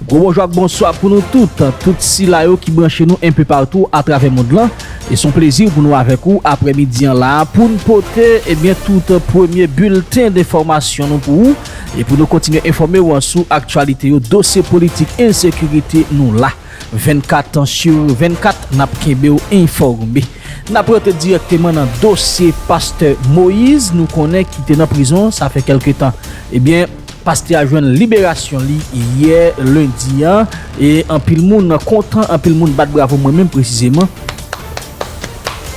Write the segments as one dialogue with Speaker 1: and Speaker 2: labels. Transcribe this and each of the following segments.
Speaker 1: Gwo bonjou ak bonswa pou nou tout, tout sila yo ki branche nou enpe patou atravè mond lan. E son plezi pou nou avèk ou aprè midi an la a pou n pote ebyen tout premye bilten denfòmasyon nou pou ou e pou nou kontinye enfòme ou an sou aktyalite yo, dosye politik, ensekirite nou la. 24 sur 24 nap kenbew enfòme. Nap rantre dirèkteman nan dosye pastè Moïse nou konnen ki te nan prizon sa fè kèlke tan. Ebyen pastè a jwenn liberasyon li yè lendi an e anpil moun kontan, anpil moun bat bravo mwen menm presizeman.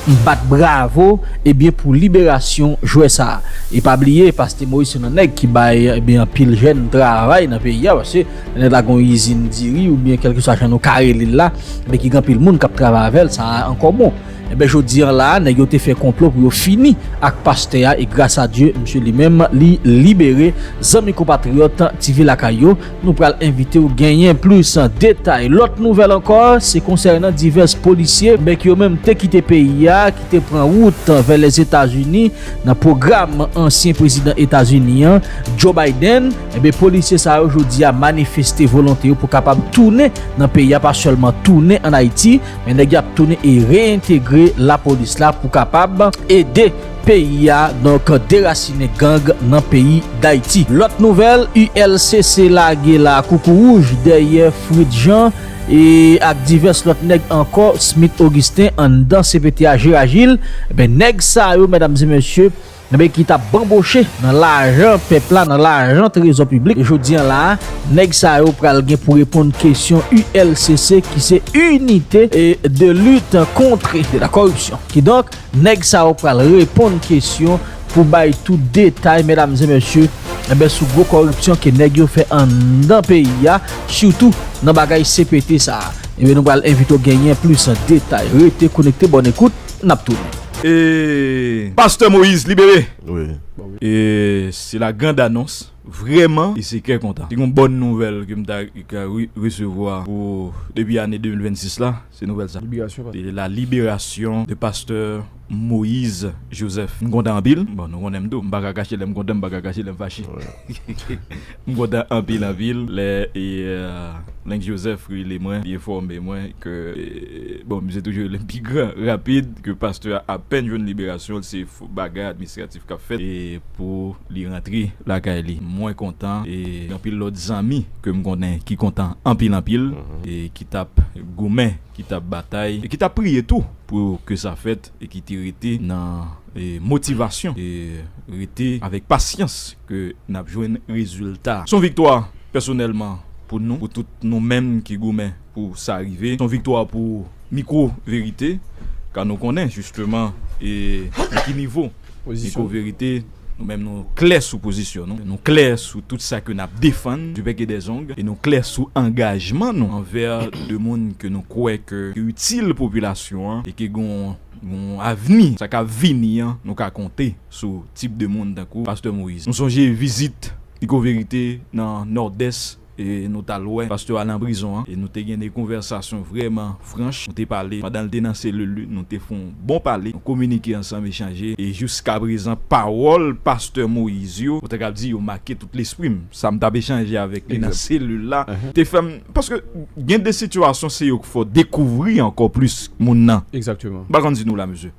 Speaker 1: M bat bravo ebyen pou liberasyon jwè sa e pa bliye paste moise se nan nèg ki bay ebyen anpil jèn travay nan peyi a paske nèg la gon izin diri oubyen kèlkeswa jan nou ka rele l la ebyen ki gen anpil moun kap travay avèl sa ankò bon ebyen jodi an la nèg yo te fè konplo pou yo fini ak pastè a e gras a Dye msye li menm li libere zanmi konpatriyòt ti vi lakay yo. Nou pral envite w genyen plis detay. Lòt nouvèl ankò se konsènan divès polisye men ki yo menm te kite peyi a, ki te pran wout vè Lèzetazini nan pwogram ansyen prezidan Etazini an, Joe Biden. Enben polisye sa yo jodi a manifeste volonte yo pou kapab tounen nan peyi a, pa sèlman tounen an Ayiti men nèg yo ap tounen e reyentegre lapolis la pou kapab ede. peyi a donk derasinen gang nan peyi dayiti. Lòt nouvèl ULCC lage la koukouwouj dèyè Fritz Jean e ak divès lòt nèg ankò Smith Augustin anndan cpt a je ajil ebyen nèg sa yo medam e mesye ebyen ki tap banboche nan lajan pèp la nan lajan trezò piblik jodi an la nèg sa yo pral gen pou reponn kesyon ULCC ki se Unite de lutte contre de la corruption kidonk. Nèg sa yo pral reponn kesyon pou bay tout detay medam e mesye enben sou gwo kòripsyon ke nèg yo fè anndan peyi a sitou nan bagay CPT sa enben nou pral envite w genyen plis detay rete konekte bòn ekout nap tounen. E
Speaker 2: Pastè Moïse libere! E se la grande annonce vrèman e se kè kontan. Se yon bòn nouvèl ke m ta ka resevwa pou depi ane 2026 la. Se nouvèl sa. Liberasyon pastè. Se la liberasyon de pastè Moïse Joseph. M kontan anpil. Bon, nou konnen m tou. M pa ka kache lè m kontan, m pa ka kache lè m fache. M kontan anpil anpil lè Lenk Joseph rele mwen, li enfòme mwen ke, bon, misye toujou rele m pi gran, rapid, ke pastè a apèn jwenn liberasyon l, se bagay administratif. kap fèt e pou li rantre lakay li mwen kontan e gen anpil lòt zanmi kem konnen ki kontan anpil anpil e ki tap goumen ki tap batay e ki tap priye tou pou ke sa fèt e ki te rete nan motivasyon e rete avèk pasyans ke nap jwenn rezilta son viktwa pèsonèlman pou nou pou tout nou menm ki goumen. Pou sa rive, s on viktwa pou mikwo verite, ka nou konnen jisteman e nan ki nivo mikwo verite nou menm nou klè sou pozisyon nou, nou klè sou tout sa ke n ap defann du bec et des ongles, e nou klè sou angajman nou anvè de moun ke nou kwè ke yo itil popilasyon an e ke gen yon avni, sa k ap vini an nou ka konte sou tip de moun tankou Pastè Moïse. Nou sonje vizit mikwo verite nan Nòdès. e nou tal wè pastè a nan prizon an e nou te gen de konvèsasyon vrèman franch nou te pale pandanl te nan selil li nou te fon bon pale nou kominike ansanm echanje e jiskaprezan pawòl pastè Moïse yo mwen ta kab di yo make tout lesprim sam tap echanje avèk li nan selil la te fèm paske gen de sitiyasyon se yo k fè w dekouvri ankò plis moun nan m pa konn si nou
Speaker 3: la mesye.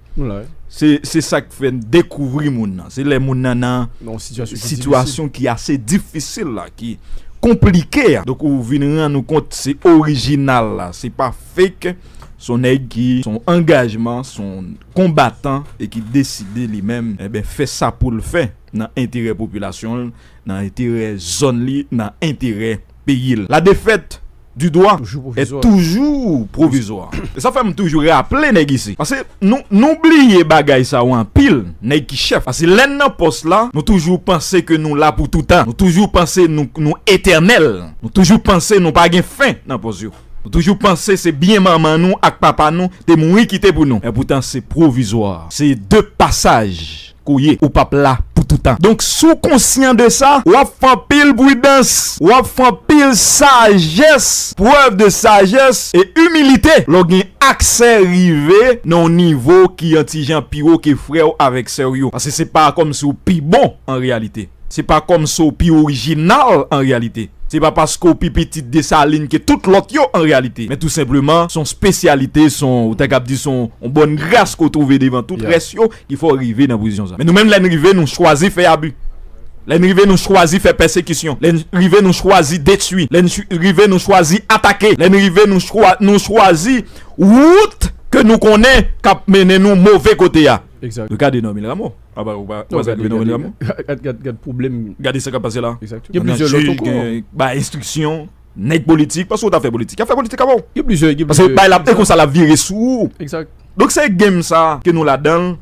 Speaker 3: Se sa k
Speaker 2: fè n dekouvri moun nan. Se lè moun nan nan sitiyasyon ki ase difisil la, ki konplike a. Donk ou vin rann ou kont se orijinal la, se pa fake. Se yon nèg ki se yon angajman, se yon konbatan e ki deside li menm fè sa pou l fè nan enterè popilasyon l, nan enterè zòn li, nan enterè peyi l. La defèt! du dwa e toujou pwovizwa e sa fè m toujou raple nèg isi pase nou bliye bagay sa yo anpil nèg ki chèf pase lè n nan pòs la nou toujou panse ke nou la pou toutan nou toujou panse nou etènèl nou toujou panse nou pa gen fen nan pòs yo nou toujou panse se byen manman nou ak papa nou te mouri kite pou nou epoutan se pwovizwa se de pasaj. Ou ye, ou pap la pou toutan. Donk si w konsyan de sa, w ap fè anpil pridans, w ap fè anpil sajès, prèv de sajès e imilite lè w gen aksè rive nan yon nivo ki yon ti jan pi wo ke frè w avèk sè w yo. Paske se pa kòmsi w pi bon an reyalite. Se pa kòmsi w pi orijinal an reyalite. Se pa paske w pi pitit Desalin ke tout lòt yo an reyalite. Men tou senpleman, se yon spesyalite, se yon, ou ta kab di se yon bòn gras ke w twouve devan tout rès yo. Li fè w rive nan pozisyon sa. Men nou menm lè n rive nou chwazi fè abi, lè n rive nou chwazi fè pèsekisyon, lè n rive nou chwazi detui, lè n rive nou chwazi atake, lè n rive nou chwazi wout ke nou konnen k ap mennen nou move kote a. Gade Normil Rameau. Ou pa wè sa k rive Normil
Speaker 1: Rameau? Gade sa k ap pase la.
Speaker 2: Gen plizyè lòt ankò.
Speaker 1: Bay enstriksyon.
Speaker 2: Nèg politik, paske ou ta fè politik. Yap fè politik avè w. Gen plizyè, gen plizyè. Paske bay
Speaker 1: la, e konsa
Speaker 2: lap vire sou ou. Egzak. Donk se
Speaker 1: game sa
Speaker 2: ke nou ladan l.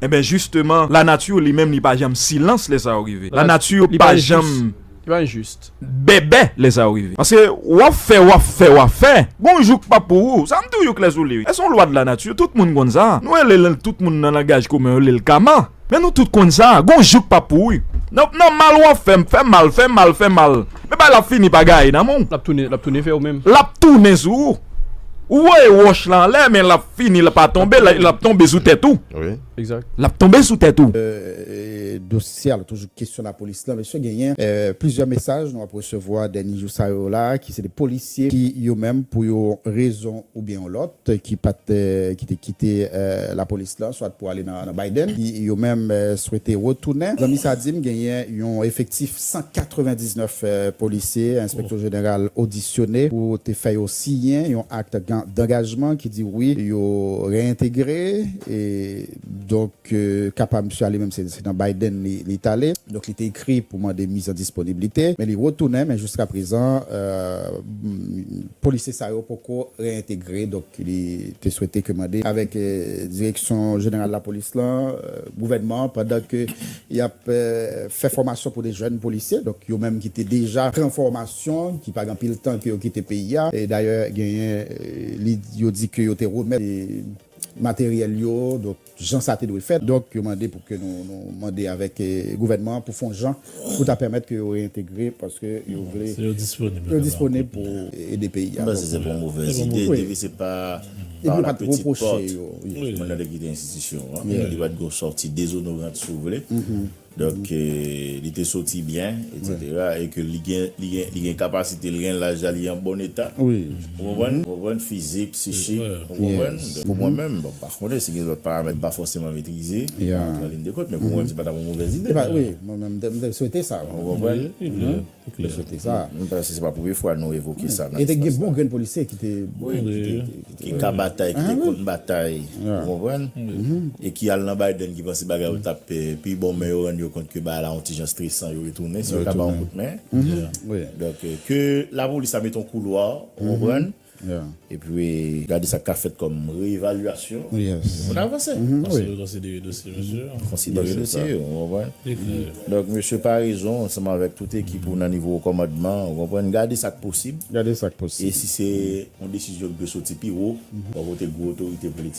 Speaker 2: Enben jisteman, la nature li menm li pa janm silans lè sa yo rive. La nature pa janm. Li pa enjis.
Speaker 1: Bèbè lè sa
Speaker 2: yo rive. Paske wap fè, wap fè, wap fè. Gon jou k pap pou ou. Sa m toujou klè sou li wi. E son lwa de la nature, tout moun konn sa. Nou rele l, tout moun nan langaj komen yo rele l Kama. Men nou tout konn sa, gon jouk pa pou wi. Nan nan mal wap fèm, fè mal, fè mal, fè mal. Men bay la ap fini pa gaye nan men w. Lap tounen, lap tounen vè ou menm.
Speaker 1: Lap tounen sou ou.
Speaker 2: Ou voye wòch lan anlè men lap fini li pa tonbe, lap tonbe sou tèt ou. Wi. Exact. Lap
Speaker 3: tonbe
Speaker 1: sou tèt
Speaker 2: ou. Dosye
Speaker 4: a toujou kesyon lapolis la mesye genyen plizyè mesaj nou ap resevwa dènye jou sa yo la ki se de polisye ki yo menm pou yon rezon oubyen yon lòt ki pa t ki te kite lapolis lan swat pou ale nan Biden ki yo menm swete retounen. Zanmi sa di m genyen yon efektif 199 polisye enspektè jeneral odisyone pou te fè yo siyen yon akte dangajman ki di wi yo reyentegre e donk. Ke kapab misye ale menm se nan Biden li tale. Donk li te ekri pou mande miz an disponiblite men li retounen men jiska prezan polisye sa yo poko reyentegre donk li te swete ke mande avèk direksyon jeneral lapolis la gouvènman an pandan ke y ap fè fòmasyon pou de jèn polisye donk yo menm ki te deja pran fòmasyon ki pa gen anpil tan ke yo kite peyi a e dayè genyen li yo di ke yo te remèt materyèl yo donk. jan sa te dwe fèt. Donk yo mande pou ke nou mande avèk gouvènman an pou fon jan pou ta pèmèt ke yo reyentegre paske yo vle yo disponib pou ede peyi a. M panse se pa yon movèz
Speaker 3: ide depi se pa pa la pètit pòt moun nan te kite enstitisyon an li pat gen yon sòti dezonorant si w vle. Donk ke li te soti byen, eksetera, e ke li gen, li gen, li gen kapasite, li gen laj la, li an bon eta. Wi. Ou konprann?
Speaker 4: Ou konprann?
Speaker 3: Fizik, psichik. Ou konprann? Pou mwen menm, bon, pa konnen si gen lòt paramèt m pa fòseman metrize, m pa antre an lin de kont, men pou mwen menm se pa t ap yon movèz ide. Wi, mwen menm m
Speaker 4: te swete sa. Ou konprann?
Speaker 3: Li chante
Speaker 4: sa. M panse se pa premye fwa
Speaker 3: nou evoke sa nan espas la. E te gen bon grenn polisye
Speaker 4: ki te. Wi, ki
Speaker 3: ka batay, ki te konn batay. Ou konprann? E ki al nan Biden ki panse bagay yo t ap pi bon men yo rann yo kont ke bagay la yon ti jan stresan yo retounen. Si yo ka ba yon kout men. Donk, ke lapolis la mete yon koulwa, ou konprann. Epi gade sa k ka fèt kòm reevalyasyon pou moun avanse. Konsidere
Speaker 5: dosye mesye yo. Konsidere dosye
Speaker 3: yo, ou konprann? Donk mesye Paraison ansanm avèk tout ekip ou nan nivo wo kòmandman an, ou konprann, gade sa k posib. E si se yon desizyon ki dwe soti pi wo, bò kote gwo otorite politik.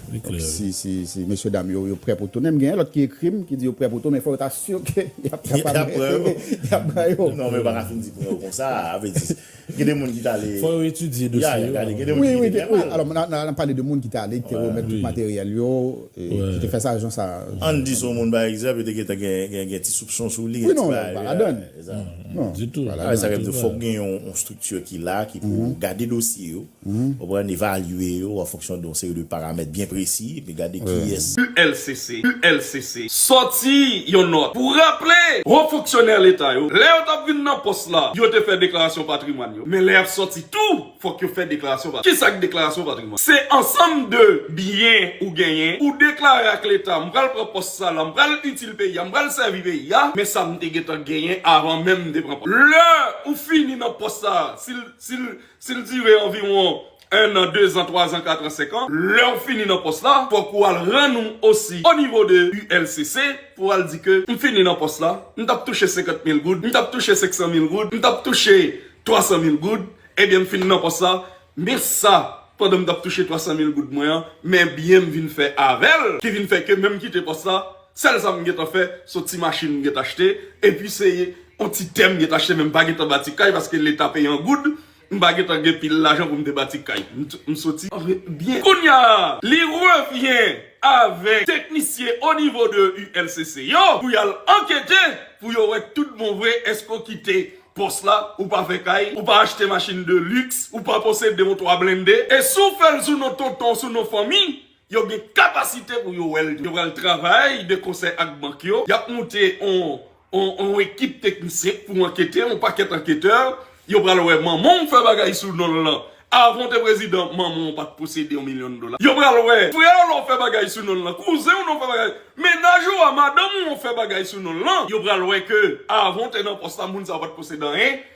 Speaker 4: Li klè wi. Si si mesye dam yo yo prè pou tounen mgenyen lòt ki ekrim ki di yo prè pou tou men fò yo ta sur ke yap kapab rete yap pran yo.
Speaker 3: Non men yo paka fin di pran yo konsa a vle di gen de moun ki tale. Fò yo etidye dosye yo avan
Speaker 5: yo pran yo. Wi wi wi alò
Speaker 4: nan pale de moun ki te ale ki te remèt tout materyèl yo ki te fè sa jan sa. Ann di son moun pa
Speaker 3: egzanp yo te gentan gen gen ti soupson sou li gen ti bagay. Wi non pa ladann.
Speaker 4: Non ditou.
Speaker 5: Avè sa yo fòk gen
Speaker 3: yon strikti ki la ki pou gade dosye yo. konprann, evalye yo an fonksyon de yon seri de paramèt byen presi epi gade kiyès. ULCC, ULCC,
Speaker 6: sòti yon nòt pou raple Ho fonksyonè Leta yo, lè yo t ap vin nan pòs la, yo te fè deklarasyon patrimwàn yo, men lè y ap sòti tou, fòk yo fè deklarasyon patrimwàn. Kisa k deklarasyon patrimwàn? Se ansanm de byen ou genyen, ou deklare ak Leta, m pral pran pòs sa la, m pral itil peyi a, m pral sèvi peyi a, men sa m te gentan genyen avan menm m te pran pòs. Lè ou fini nan pòs sa a, si l, si l, Si l dire anviwon ennan, dezan, twazan, katran, senkan, lè w fini nan pòs la, fòk ou al rann ou osi onivo de ULCC pou w al di ke m fini nan pòs la, m t ap touche senkant mil goud, m t ap touche senksan mil goud, m t ap touche twasan mil goud, ebyen m fin nan pòs la, men sa pandan m t ap touche twasan mil goud mwen an, men byen m vin fè avè l ki vin fè ke menm kite pòs la. Sèl sa m gentan fè son ti machin m gentan achte epi se yon ti tè m gentan achte men m pa gentan bati kay paske leta peye an goud m pa gentan gen pil lajan pou m te bati kay m soti byen kounya li revyen avèk teknisyen onivo de ULCC yo pou y al ankete pou yo wè tout bon vre èske w kite pòs la ou pa fè kay ou pa achte machin de lux ou pa posede yon 3 blende e si w fè l sou non tonton w sou non fanmi Yo gen kapasite pou yo wè l. Yo pral travay de konsè ak bank yo. Y ap moute yon ekip teknisyen pou ankete, yon pakèt anketè. Yo pral wè manman w fè bagay sou non l lan. Avan w te prezidan, manman w pa t posede yon milyon dola. Yo pral wè frè w lan fè bagay sou non l lan, kouzen w lan fè bagay, mennaj ou a, madanm ou an fè bagay sou non l lan. Yo pral wè ke avan w te nan pòs la, moun sa yo pa t posede anyen.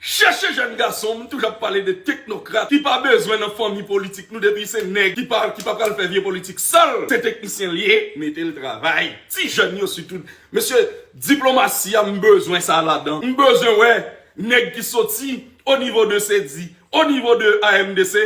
Speaker 6: Chèche jèn gason m toujou ap pale de teknokrat ki pa bezwen nan fanmi politik nou depi se nèg ki pa ki pa pral fè vye politik sal se teknisyen liye metel travay ti jèn yo sitou mesye diplomasi a m bezwen sa ladan m bezwen wè nèg ki soti onivo de sedi onivo de AMDC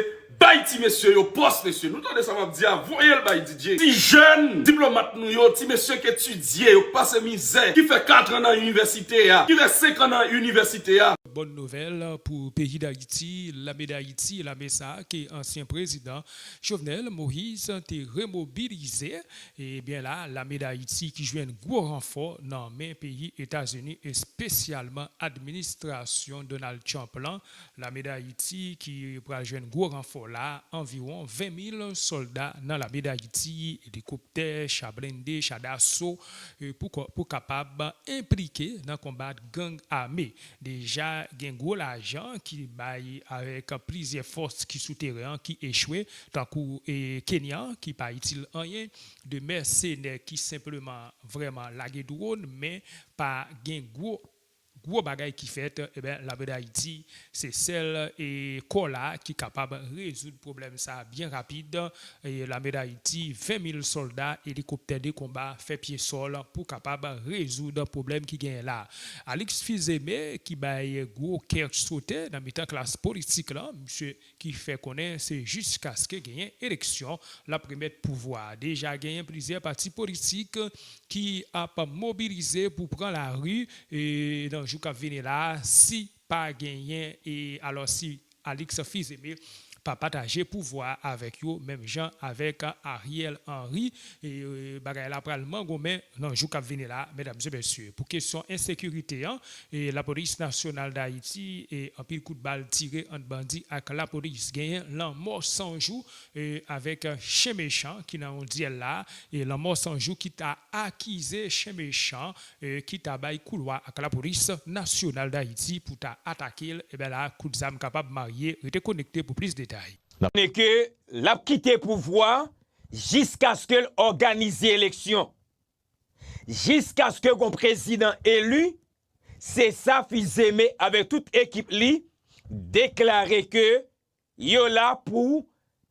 Speaker 6: Bay ti mesye yo pos mesye. Nou tande sa map di a voyel bay DJ. Ti jèn diplomat nou yo, ti mesye k etidye, yo k pase mizè, ki fè 4 an nan inivèsite a, ki fè 5 an nan inivèsite a. Bòn nouvèl
Speaker 7: pou peyi Dayiti, lame Dayiti, lame sa ke ansyen prezidan Jovenel Moise te remobilize, e byen la lame Dayiti ki jwenn gwo ranfò nan men peyi Etazini espesyalman administrasyon Donald Trump lan Lame Dayiti ki pral jwenn gwo ranfò la, anviwon 20 mil sòlda nan lame Dayiti, elikoptè, cha blende, cha daso pou kapab enplike nan konbat gang ame. Deja gen gwo lajan ki bay avèk plizyè fòs ki sou teren an ki echwe, tankou Kenyan ki pa itil anyen, 2 mèsenè ki senpleman vrèman lage dwòn men pa gen gwo. Gwo bagay ki fèt ebyen lame dayiti se sèl e kò la ki kapab rezoud pwoblèm sa byen rapid e lame dayiti 20 mil sòlda elikoptè de konba fè pye sòl pou kapab rezoud pwoblèm ki genyen la Alix Fils-Aimé ki bay gwo kè sote nan mitan klas politik lan misye ki fè konnen se jiskaske genyen eleksyon l ap remèt pouvwa a. Deja genyen plizyè pati politik ki ap mobilize pou pran lari nan jou k ap vini la a si pa genyen e alò si Alix Fils-Aimé pa pataje pouvwa a avèk yo menm jan avèk Ariel Henry bagay la pral mangonmen nan jou k ap vini la a medam e mesye pou kesyon ensekirite an Lapolis Nasyonal Dayiti, Anpil kout bal tire ant bandi ak lapolis genyen lanmò san jou avèk chen mechan ki nan yon dyèl la Lanmò san jou ki ta akize chen mechan ki ta bay koulwa ak lapolis Nasyonal Dayiti pou ta atake l Ebyen la kout zam kapab marye Rete konekte pou plis detay. Konnen ke
Speaker 8: lap kite pouvwa jiskaske l òganize eleksyon. Jiskaske gon prezidan eli, se sa Fils-Aimé avèk tout ekip li deklare ke yo la pou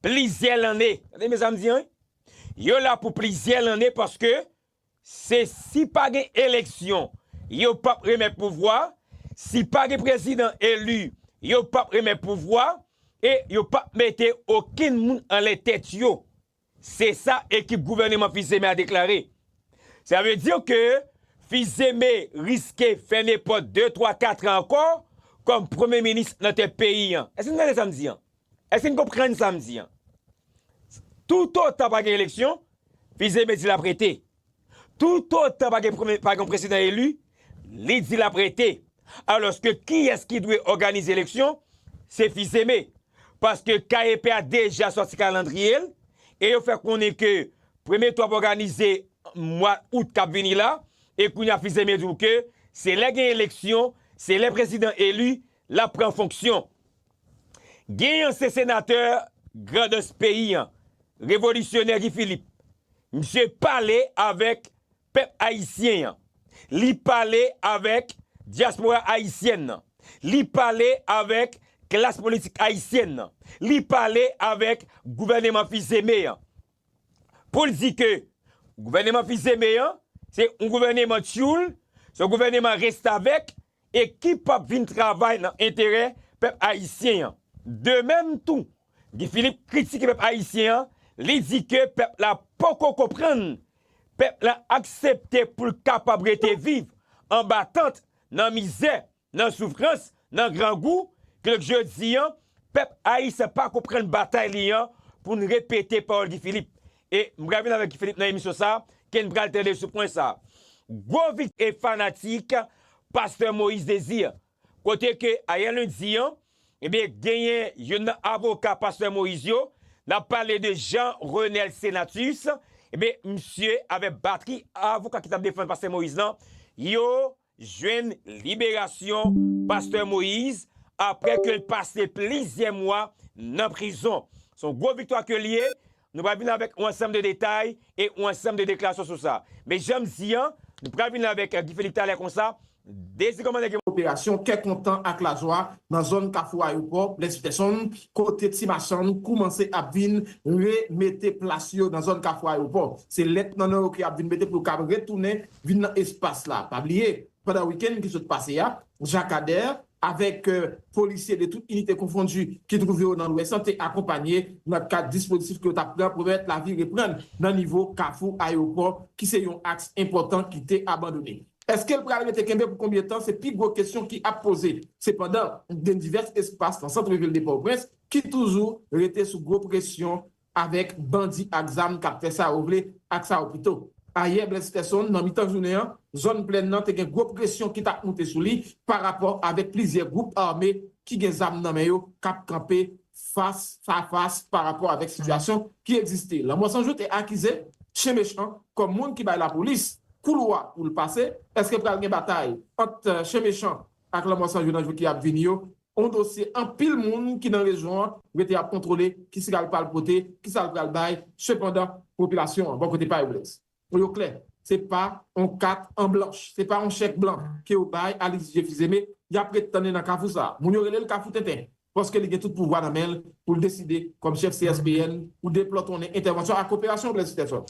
Speaker 8: plizyè lanne. Tande byen sa m di an wi. Yo la pou plizyè lanne paske se si pa gen eleksyon, yo p ap remèt pouvwa, si pa gen prezidan eli, yo p ap remèt pouvwa e yo p ap mete okenn moun anlè tèt yo. Se sa ekip gouvèneman Fils-Aimé a deklare. Sa vle di ke Fils-Aimé riske fèmen pòt de, twa, katran ankò kòm premye minis nan tèt peyi an. Èske n tande sa m di an? Èske n konprann sa m di an? Toutotan pa gen eleksyon, Fils-Aimé di l ap rete. Toutotan pa gen prezidan eli, li di l ap rete. Alòske kiyès ki dwe òganize eleksyon? Se Fils-Aimé. Paske KEP a deja sòti kalandriye l e yo fè konnen ke premye tou ap òganize mwa out k ap vini la e kounye a Fils-Aimé di w ke se lè gen eleksyon, se lè prezidan eli, l ap pran fonksyon. Gen yon se senatè grandans peyi an, revolisyonè Guy Philippe. Misye pale avèk pèp ayisyen an. Li pale avèk dyaspora ayisyèn nan. Li pale avèk klas politik ayisyèn nan. Li pale avèk gouvèneman Fils-Aimé an. Pou l di ke gouvèneman Fils-Aimé an, se yon gouvèneman tyoul, se yon gouvèneman restavèk, e ki pap vin travay nan enterè pèp ayisyen an. De mèm tou, Guy Philippe kritike pèp ayisyen an, li di ke pèp la poko konprann, pèp la aksepte pou l kapab rete viv anba tant, nan mizè, nan soufrans, nan grangou, kidonk jodi an, pèp ayisyen pa konprann batay li an, pou n repete pawòl Guy Philippe. E m pral vin avèk Guy Philippe nan emisyon sa, ken pral tande sou pwen sa. Gwo vit e fanatik pastè Moïse Désir. Kote ke ayè lendi an, ebyen genyen youn nan avoka pastè Moïse yo, n ap pale de Jean Renel Senatus, ebyen misye avèk batri avoka ki t ap defann pastè Moïse lan, yo jwenn liberasyon pastè Moïse aprè ke l pase plizyè mwa nan prizon. Se yon gwo viktwa ke l ye, nou pral vin avèk yon ansanm de detay e yon ansanm de deklarasyon sou sa. Men jan m di an, nou pral vin avèk Guy Philippe talè konsa, dezi kòman nèg yo.
Speaker 9: Operasyon kè kontan ak lajwa nan zòn Kafou Ayopò, Blaise Peterson, kote ti machann koumanse ap vin re mete plas yo nan zòn Kafou Ayopò. Se lèt nan nan yo ke y ap vin mete pou yo kab retounen vin nan espas la. Pa bliye, pandan wikenn ki sot pase a, Jakadèr avèk polisye de tout inite konfondi ki twouve yo nan Lwès lan te akonpanye nan kad dispozitif ke yo t ap pran pou pèmèt lavi reprann nan nivo Kafou Ayewopò ki se yon aks enpòtan ki te abandone. Eske l pral rete kenbe pou konbyen tan se pi gwo kesyon ki ap poze. Sepandan, gen divès espas nan sant vil de Pòtoprens ki toujou rete sou gwo presyon avèk bandi ak zam k ap fè sa yo vle ak sa yo pito. Ayè Blaise Ferson, nan mitan jounen an, zòn Plèn nan te gen gwo presyon ki t ap moute sou li parapò avèk plizyè gwoup ame ki gen zam nan men yo k ap kanpe fas a fas parapò avèk sitiyasyon ki egziste. Lanmò San Jou te akize Chen Mechan kòm moun ki bay lapolis koulwa pou l pase. Èske pral gen batay ant Chen Mechan ak Lanmò San Jou nan jou ki ap vini yo? On dosye anpil moun ki nan rejyon an rete ap kontwole kisa l pral pote, kisa l pral bay, sepandan popilasyon an bò kote pa yo Blaise, pou yo klè, se pa on kat an blanch, se pa on chèk blan ke yo bay a Lydie Fils-Aimé, y ap ret tann li nan kafou sa a. Moun yo rele l kafou tenten, paske li gen tout pouvwa nan men l pou l deside kòm chèf CSPN pou deplòtonnen entèvansyon ak operasyon Blaise Stephen.